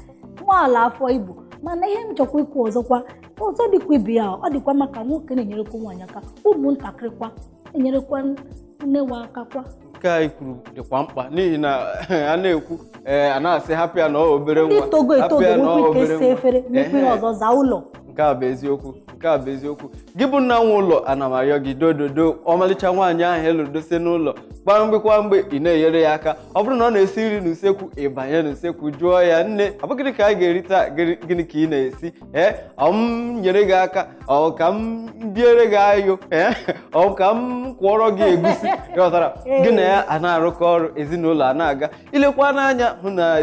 S2: nwa ala afọ Igbo mana ihe m chọkwa ikwu ọzọkwa ọzọ dịkwa ibe ya ọ dịkwa mma ka nwoke na-enyerekwa nwaanyị aka ụmụntakịrị kwa enyerekwa nne wa aka kwa nke a i kwuru
S1: dịkwa mkpa n'ihi na a na-ekwu ee a na-asị hapụ ya na ọ obere ndị nwa togo hapụ etogo ya na ọ nwekwa
S2: ike obere esi nwa. efere nwekwa ihe Ehe. ọzọ zaa ụlọ nke a bụ
S1: eziokwu nke a bụ eziokwu gị bụ nna nwe ụlọ ana m arịọ gị dododo ọmalịcha nwaanyị ahụ ị lụrụ dosie n'ụlọ kwa mgbe kwa mgbe ị na-enyere ya aka ọ bụrụ na ọ na-esi nri n'usekwu ị banye n'usekwu jụọ ya nne ọ bụ gịnị ka anyị ga-eri taa gịnị ka ị na-esi ee ọ m nyere gị aka ọ ka m biere gị ayo ee ọ ka m kwọọrọ gị egusi ghọtara gị na ya a na-arụkọ ọrụ ezinụlọ a na-aga i lekwa n'anya hụ na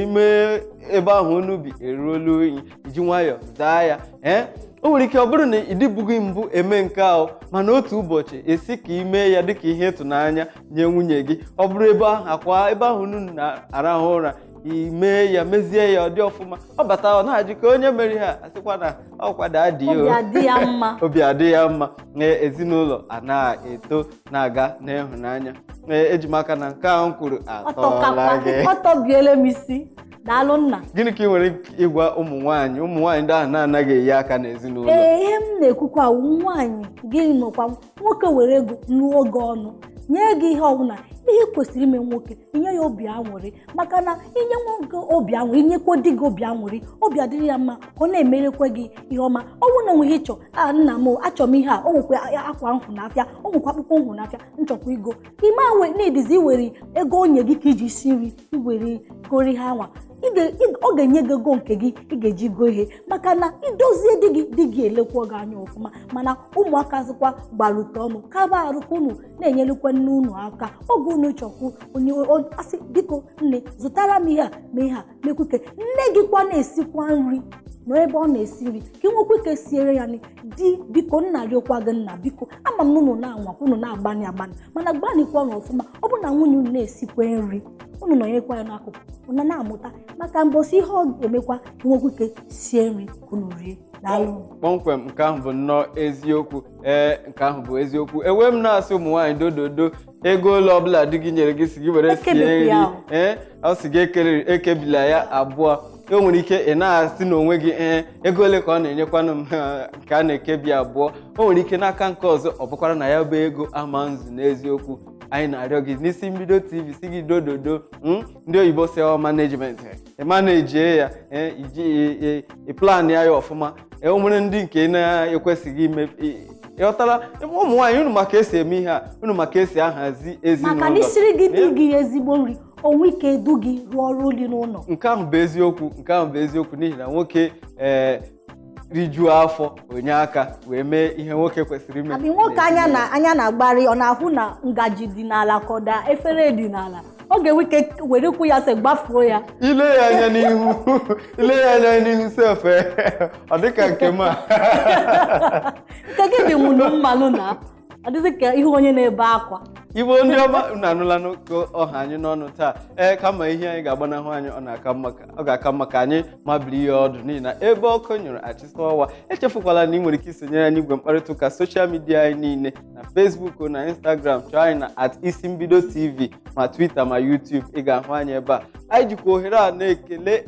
S1: ime ebe ahụ unu bi eruola unyi i ji nwayọọ zaa ya ee o nwere ike ọ bụrụ na ị dịbughị mbụ eme nke ahụ mana otu ụbọchị esi ka ị mee ya dịka ihe ịtụnanya nye nwunye gị ọ bụrụ ebe ahụ akwa ebe ahụ unu na-arahụ ụra i mee ya mezie ya ọ dị ọfụma ọ bata ọ na-ajụ ka onye mere ha asịkwa na ọkwa daddy obi adị ya mma obi adị ya mma na ezinụlọ a na-eto na-aga n'ịhụnanya Ee, eji m aka na nke ahụ m kwuru atọla gị ọtọbiele m
S2: isi daalụ nna gịnị ka ị nwere
S1: ịgwa ụmụ nwaanyị ụmụ nwaanyị ndị ahụ na-anaghị eyi aka n'ezinụlọ ee ihe m na-ekwukwa
S2: awụ nwaanyị gị nwekwa nwoke were ego nụọ gị ọ na-enye gị ihe ọbụla ihe kwesịrị ime nwoke inye ya obi aṅụrị maka na i nye nwoke obi aṅụrị i nyekwa di gị obi aṅụrị obi adịrị ya mma ọ na-emerekwa gị ihe ọma ọ bụrụ na o nwee ihe ị chọ a ah, nna m achọrọ m ihe a o nwekwa akwa m hụ n'afịa o nwekwa akpụkpọ m hụ n'afịa m chọkwa igo ime awe na-edizi iwere ego o nye gị ka i ji si nri iwere goro ihe anwa ọ ga-enye gị ego nke gị ị ga-eji goo ihe maka na idozie di gị elekwuo gị anya ọfụma mana ụmụaka zikwa gbarute unu kaba arụkwa unu na-enyelukwa nne unu aka oge unu chọkwu onye asị biko nne zụtara m ihe a ma ihe a mekwuke nne gị kwa na-esikwa nri nọ ebe ọ na-esi nri ka ị nwekwa ike siere ya nri di biko m na-arịọkwa gị nna biko ama m na unu na-anwa unu na-agbani agbani mana gbanikwanụ ọfụma ọ bụ na nwunye unu na-esikwa nri unu nọnyekwa ya n'akụkụ unu na-amụta maka mbọsị ihe ọ ga-emekwa nwekwa ike sie nri ka unu rie daalụ
S1: kpọmkwem nke ahụ bụ nnọọ eziokwu ee nke ahụ bụ eziokwu ewee m na-asị ụmụ nwaanyị dododo ego ole ọbụla di gị nyere gị sị gị were sie Ekebikwa nri ya o. ee ọ sị gị ekere- ekebila ya abụọ o nwere ike ị na-asị n'onwe gị ee ego ole ka ọ na-enyekwanụ m ha, nke a na-ekebi abụọ o nwere ike n'aka nke ọzọ ọ bụkwara na ya bụ ego ama ezu n'eziokwu anyị na-arịọ gị n'isi mbido tv sị gị dododo mm, ndị oyibo sị ọ management ị manejie ya ee, iji ị- ị- ị plan ya ya ọfụma e nwere ndị nke na-ekwesịghị ime ị- ịghọtala ụmụ nwaanyị unu ma ka e si eme ihe a unu ma ka e si ahazi ezinụlọ maka na isiri gị di
S2: gị ezigbo nri o nwee ike edu gị rụọ ọrụ dị n'ụlọ nke ahụ bụ
S1: eziokwu nke ahụ bụ eziokwu n'ihi na nwoke ee rijuo afọ o nye aka wee mee ihe nwoke kwesịrị ime abi nwoke anya na anya
S2: na-agbari ọ na-ahụ na ngaji dị n'ala ka ọ daa efere dị n'ala ọ ga-enwe ike were ụkwụ ya sef gbafuo ya ile ya anya
S1: n'ihu ile ya anya n'ihu sef eh, ọ dịka nke m a
S2: nke gị dị nwụrụ mmanụ na ọ dịzị ka ihu onye na-ebe akwa igbo ndị
S1: ọma unu anụlanụ ka ọ ha anyị n'ọnụ taa ee kama ihe anyị ga-agbanahụ anyị ọ na-aka mma ka- ọ ga-aka mma ka anyị mabiri ya ọdụ n'ihi na ebe ọkụ nyụrụ a chịsa ọwa echefukwala na ị nwere ike isonyere anyị igwe mkparịta ụka soshal midia anyị niile na Facebook na Instagram chọọ anyị na at isi mbido TV ma Twitter ma YouTube ị ga-ahụ anyị ebe a anyị jikwa ohere a na-ekele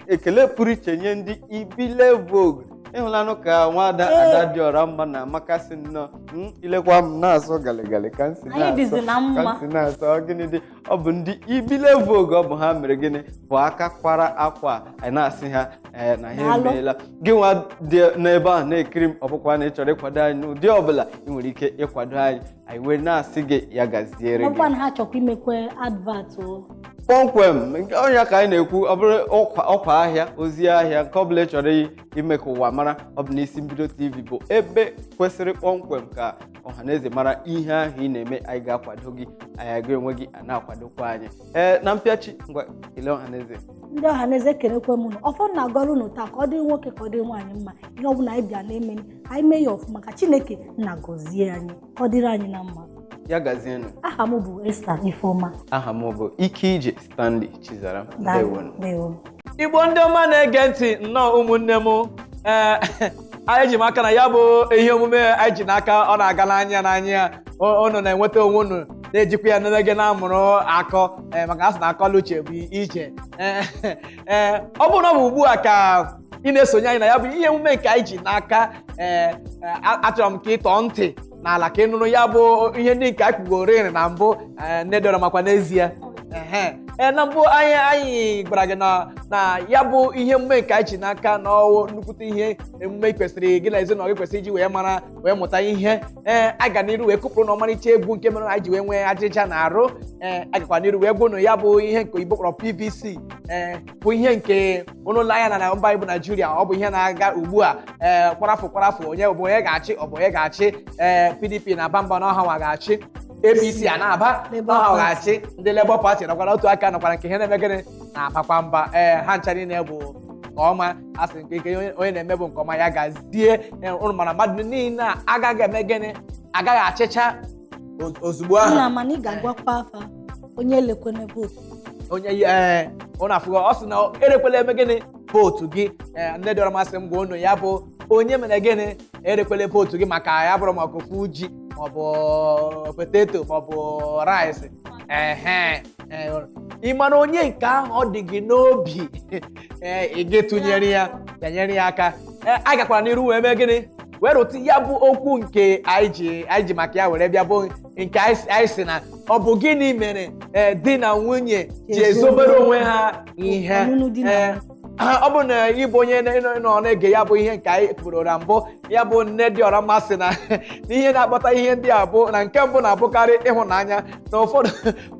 S1: ekele pụrụ iche nye ndị Ibile Vogue ịhụlanụ ka nwaada Adadịọramma na-amakasị nnọọ m ilekwa m na-asọ galigali ka m si Anyị dịzi na mma. ka m si na-asọ gịnị dị ọ bụ ndị ibile vogue ọ bụ ha mere gịnị bụ aka kwara akwa a, anyị na-asị ha ee na ha Daalụ. emeela gị nwa dị n'ebe ahụ na-ekiri m ọ bụkwa na ị chọrọ ịkwado anyị n'ụdị ọbụla ị nwere ike ịkwado anyị anyị wee na-asị gị ya gaziere gị ọkwa na ha chọkwa
S2: imekwe advert o
S1: kpọmkwem nke ọ nya ka anyị na-ekwu ọ bụrụ ọkwa ọkwa ahịa ozi ahịa nke ọbụla ị chọrọ i- ime ka ụwa mara ọ bụ n'isi mbido tv bụ ebe kwesịrị kpọmkwem ka ọha na eze mara ihe ahụ ị na-eme anyị ga-akwado gị anyị ga-enwe gị a na-akwadokwa anyị ee na mpịachi ngwa kelee ọha na eze ndị ọha na eze
S2: ekelekwe m unu ọfọ m na-agọrọ unu taa ka ọ dịrị nwoke ka ọ dị nwaanyị mma ihe ọbụla anyị bịa na-eme anyị mee ya ọfụma ka chineke na-agọzie anyị ka ọ dịrị anyị na mma ya
S1: gazienụ aha m bụ Esther
S2: Ifeoma aha m bụ
S1: Ikeije Stanley Chizaram Daalụ. ndewonụ Ndewo.
S2: igbo
S3: ndị ọma na-ege ntị nnọọ ụmụnne m ee anyị ji m aka na ya bụ ihe omume anyị ji n'aka ọ na-aga n'anya n'anya O- unu na-enweta onwe unu na-ejikwa ya na-eme gịnị na-amụrụ akọ ee, maka a sị na akọ na uche bụ ije Ee, ee, ọ bụrụ na ọ bụ ugbu a ka ị na-esonye anyị na ya bụ ihe omume nke anyị ji n'aka ee ee, a- achọrọ m ka ị tọọ ntị n'ala ka ị nụrụ ya bụ ihe ndị nke a kwugorịrị na mbụ eh, nne dị ọra mma ọkwa n'ezie Ehe. Ee, na mbụ anyị anyị gwara gị na na ya bụ ihe emume nke anyị ji n'aka na ọwụ nnukwute ihe emume kwesịrị gị na ezinụlọ gị kwesịrị iji wee mara wee mụta ihe ee a gaa n'iru wee kụpụrụ ụnụ ọmarịcha egwu nke mere na anyị ji wee nwee ajịja n'arụ ee a gakwa n'iru wee gwa ụnụ ya bụ ihe nke oyibo kpọrọ pvc ee bụ ihe nke ụnụ na ya na na mba anyị bụ naijiria ọ bụ ihe na-aga ugbu a ee ka ọra fụ ka ọra fụ onye bụ onye ga-achị ọ bụ onye ga-achị ee pdp na-aba mba na ọ ha nwa ga-achị apc a na-aba Labour na ọ ha Party. ga-achị ndị labour party nọkwara otu aka nọkwara nke ha na-eme gịnị na-abakwa mba ee ha ncha niile bụ nke ọma a sị nke nke onye- onye na-eme bụ nke ọ ma ya gazie Ee, ụnụ mana mmadụ niile a agaghị eme gịnị agaghị achịcha o- ozugbo ahụ nna mana ị ga-agwakwa
S2: fa onye elekwene vootu onye
S3: ee ụnụ afụgo ọ sị na erekwela eme gịnị vootu gị ee nne dị ọra mma sị m gwa ụnụ ya bụ onye mere gịnị erekwele vootu gị maka ya bụrụ maka ofu ji maọbụ poteto maọbụ rice ehe ee, ị mara onye nke ahụ ọ dị gị n'obi ee ị gị tụnyere ya bịanyere ya aka ee a gakwara n'iru wee mee gịnị wee rụtụ ya bụ okwu nke anyị ji anyị ji maka ya were bịa bụ nke anyị sị- anyị sị na ọ bụ gịnị mere ee, di na nwunye ji ezobere onwe ha ihe Ọnụnụ di na Ee, nwunye. ha- ọ bụ na ị bụ onye na- nọ nọ na-ege ya bụ ihe nke anyị kwuru na mbụ ya bụ nne dị ọra mma sị na na ihe na-akpata ihe ndị a bụ na nke mbụ na-abụkarị ịhụnanya na ụfọdụ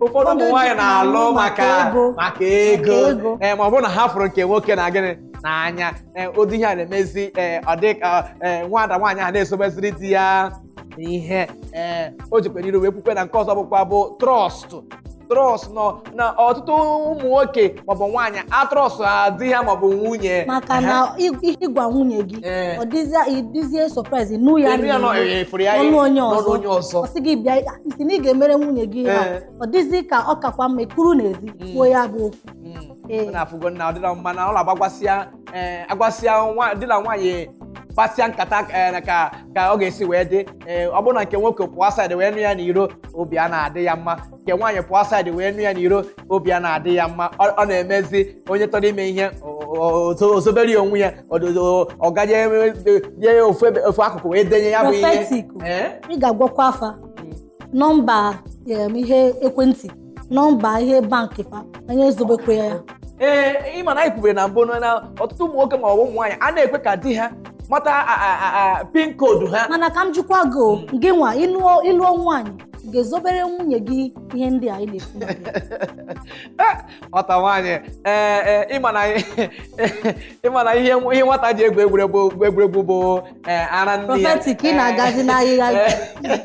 S3: ụfọdụ ụmụ nwaanyị na-alụ maka ego. maka ego Maka ego. ee ma ọ bụrọ na ha fụrụ nke nwoke na gịnị n'anya ee ụdị ihe a na-emezi ee ọ dị ka ee, nwada nwaanyị ahụ na-ezobeziri di ya ihe ee o jekwa n'iru wee kwukwe na nke ọzọ bụkwa bụ trust trust nọ na ọtụtụ ụmụ nwoke maọbụ nwaanyị atrustrọ di ha maọbụ nwunye maka na ị-
S2: ị- ịgwa nwunye gị Ee. ọ dịzie ị dịzie surprise nụ ya Elu ya nọ n'ihu. efuru ya ọnụ onye n'ọnụ ọzọ onye ọzọ ọ sị gị bịa ị sị na ị ga-emere nwunye gị ihe a Ee. ọ dịzi ka ọ kakwa mma ị kwụrụ n'ezi kwuo ya bụ okwu Mm. Ee. Ụnụ afụgo na ọ dịrọ
S3: mma na ọ na-agbagwasịa ee agwasịa nwa- di na nwaanyị kpasịa nkata ee, na ka ka ọ ga-esi wee dị ee, ọ bụrụ na nke nwoke pụọ outside wee nụ ya n'iro obi a na-adị ya mma nke nwaanyị pụọ outside wee nụ ya n'iro obi a na-adị ya mma ọ ọ na-emezi onye chọrọ ime ihe o- o- o- ozobere ya onwe ya ododo- ọ gaje eme- nye ya ofu ebe-
S2: ofu akụkụ
S3: wee denye ya bụ ihe Prophetic. Ee? ị
S2: ga-agwakwa
S3: afa
S2: nọmba
S3: em,
S2: ihe ekwentị nọmba ihe bankị fa onye ezobekwa ya ee ị ma
S3: na anyị kwubere na mbụ na na ọtụtụ ụmụ nwoke ma ọ bụ ụmụ nwaanyị a na-ekwe ka di ha mata a- a- a- a- pin koodu ha mana ka m jụkwa gị o,
S2: gị nwa ị lụọ ị lụọ nwaanyị ị ga-ezobere nwunye gị ihe ndị a anyị na-ekwu maka
S3: ya? nwata nwaanyị ee ee ị ma na ị ma na ihe ihe nwata ji egwu egwuregwu bụ egwuregwu bụ ee, ara nne ya Prophetic, ị na-agazị
S2: n'ahịhịa. Ee.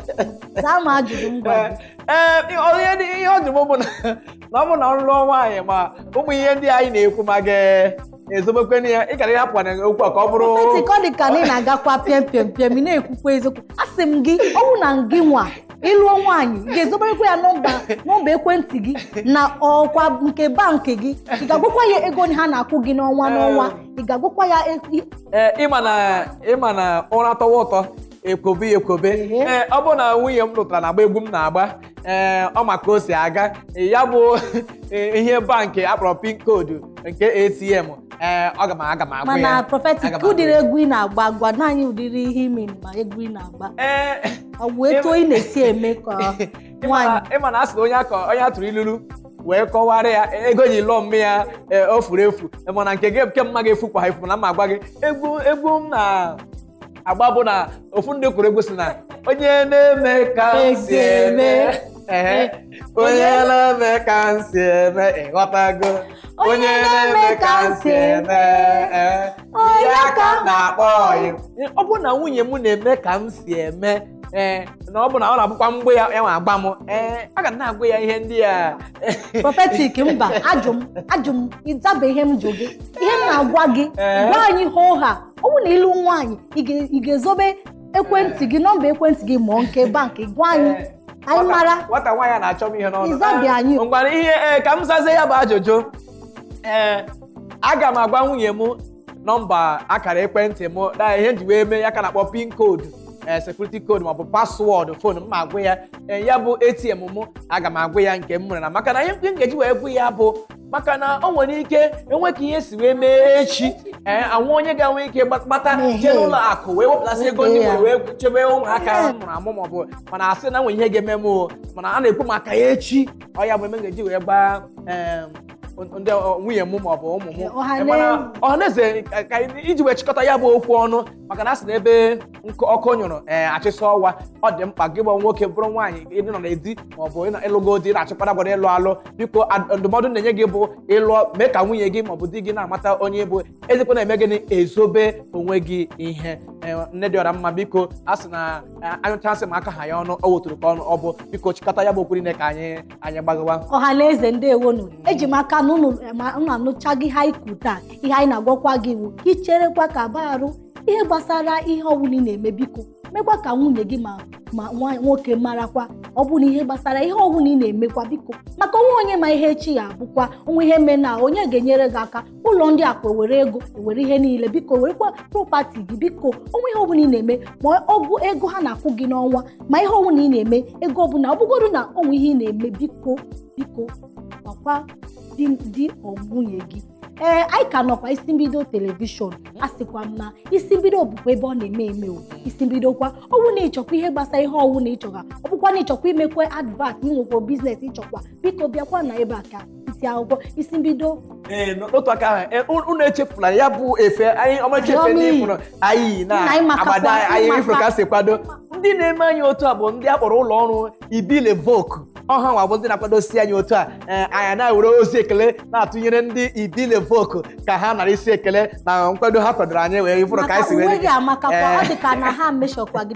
S2: zaa m ajụjụ m gwara gị. ee ihe ọ-
S3: ihe ọ jụ m bụ na na ọ bụ na m lụọ nwaanyị ma ụmụ ihe ndị anyị na-ekwu ma m ga-ezobekwe na ya ị gara ịhapụ na okwu a ka ọ bụrụ Prophetic ọ dị ka na ị
S2: na-agakwa pịam pịam pịam ị na-ekwukwa eziokwu asị m gị ọ bụ na gị nwa ị lụọ nwaanyị ị ga-ezoberekwa ya nọmba nọmba ekwentị gị nakwa nke bankị gị ị ga-agwakwa ya ego ha na-akwụ gị n'ọnwa n'ọnwa ị ga-agwakwa ya e- i- Ee, ị ma na
S3: ị ma na ụra tọwa ụtọ e kwobe ya ekwobe Ehe. ee ọ bụrụ na nwunye m lụtara na-agba egwu m na-agba ee ọ ma ka o si aga ee, ya bụ ee, ihe bankị a kpọrọ pin koodu nke atm ee aga m aga m agwa ya mana Prophetic Aga m agwa ụdịrị
S2: ya. egwu ị na-agba gwa anyị ụdịrị ihe ime ma egwu ị na-agba ee ọ bụ etu ị na-esi eme ka nwaanyị ị ma na ị ma na a sị na onye a
S3: kọ onye a tụrụ ilulu wee kọwara ya ego e ji lụọ nne ya ee, o furu efu mana nke gị nke mma ga-efukwa efu mana m ma agwa gị egwu egwu m na agba bụ na ofu ndị kwuru egwu sị na onye na-eme ka m si eme ehe, onye na-eme ka m si eme ị ghọtago onye na-eme ka m si eme ehe, Onye ya ka m na-akpọ ọyị ọ bụ na nwunye m na-eme ka m si eme ee na ọ bụ na ọ na-abụkwa mgbe ya ya nwa agba m ee aga m na-agwa ya ihe ndị a Prophetic
S2: mba ajụ m ajụ m ị zabe ihe m jụ gị ihe m na-agwa gị Ee. gwa anyị hoo ha ọ bụrụ na ị lụ nwaanyị ị ga- ị ga-ezobe ekwentị gị nọmba ekwentị gị ma ọ nke bankị gwa anyị Ee, anyị nwata- mara nwata nwaanyị a na-achọ
S3: m ihe n'ọnụ Ị zabe anyị. Eh, ngwara
S2: ihe ee ka m
S3: zazie ya bụ ajụjụ ee aga m agwa nwunye m nọmba akara ekwentị m na ihe m ji wee mee ya ka a na-akpọ pin code ee security code maọbụ paswọọdụ fon m ma agwa ya ee ya bụ atm m aga m agwa ya nke m nwere na maka na ihe m ga-eji wee gwa ya bụ maka na o nwere ike enwe ka ihe si wee mee echi ee enwe onye ga-enwe ike gba- gbata Ehe. jee n'ụlọ akụ wee wepụtasị ego ndị Weta ya. nwere wee chebe ụmụaka Ehe. mụrụ amụ maọbụ mana asị na nwere ihe ga-eme m o mana a na-ekwu maka ya echi ọ ya bụ eme m ga-eji wee gbaa em, ndị ọ- nwunye m maọbụ ụmụ m Ọha na Mana eze. ọhaneze ka- ka- iji wee chịkọta ya bụ okwu ọnụ maka na a sị na ebe nkụ ọkụ nyụrụ ee achịsa ọwa ọ dị mkpa gị bụ nwoke bụrụ nwaanyị ịdị nọ na di ma ọ bụ ịnọ- ịlụgo di na-achịkwara gwara ịlụ alụ biko ad- ndụmọdụ m na-enye gị bụ ịlụọ mee ka nwunye gị ma ọ bụ di gị na-amata onye ị bụ ezikwana eme gịnị ezobe onwe gị ihe Ee, nne dị ọra mma biko a sị na ee, anyụcha nsị ma akaha ya ọnụ ọ wụ otoro ka ọ na-abụ biko chịkọta ya bụ okwu niile ka anyị anyị gbagawa ọha na eze
S2: ndewonu eji m aka na unu ma unu anụchago ihe anyị kwuru taa ihe anyị na-agwakwa gị wụ ka icherekwa ka ba arụ ihe gbasara ihe ọbụla ị na-eme biko mekwa ka nwunye gị ma ma nwa- nwoke marakwa ọ bụ na ihe gbasara ihe ọbụla ị na-emekwa biko maka onwe onye ma ihe echi ya-abụkwa onwe ihe mee na onye ga-enyere gị aka ụlọ ndị akụ ewere ego ewere ihe niile biko werekwa propati gị biko onwe ihe ọbụla ị na-eme ma ọwụ ego ha na-akwụ gị n'ọnwa ma ihe ọbụla ị na-eme ego ọbụla ọ bụgodu na onwe ihe ị na-eme biko biko gwakwa di di ọ nwunye gị ee anyị ka nọkwa isi mbido telivishọn a sịkwa m na isi mbido bụkwa ebe ọ na-eme eme o isi mbido kwa ọwụ na ịchọkwa ihe gbasara ihe ọwụ na ịchọga ọ bụkwa na ịchọkwa imekwa advat inwekwa biznes ịchọkwa biko bịakwa na ebe a ka isi akwụkwọ isi mbido ee n'otu aka
S3: ahụ e, unu unu echefula ya bụ efe anyị ọmarịcha efe Anyị ndị ọma ifụrụ anyị na Nna, anyị amakakwa, agbada anyị anyị amaka. ifụrụ ka si kwado ndị na-eme anyị otu a bụ ndị a kpọrọ ụlọ ọrụ Ibile Vogue ọ ha nwa bụ ndị na-akwadosi anyị otu a ee, anyị na-ewere ozi ekele na-atụnyere ndị Ibile Vogue ka ha nara isi ekele na nkwado ha kwadoro anyị wee ifụrụ ka maka anyị si wee uwe gị amakakwa Ee. ọ dị
S2: ka na ha meshọkwa gị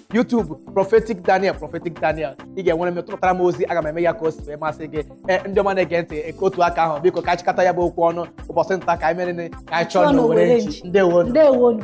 S3: YouTube Prophetic Daniel Prophetic Daniel ị ga-enwere m tụtara m ozi aga m eme ya ka o si wee masị gị ee ndị ọma na-ege ntị eke otu aka ahụ biko ka anyị chịkọta ya bụ okwu ọnụ ụbọchị nta ka anyị mere ka anyị chụọ Chụọ na n'owere owere nchi nchi. ndewo ndewonu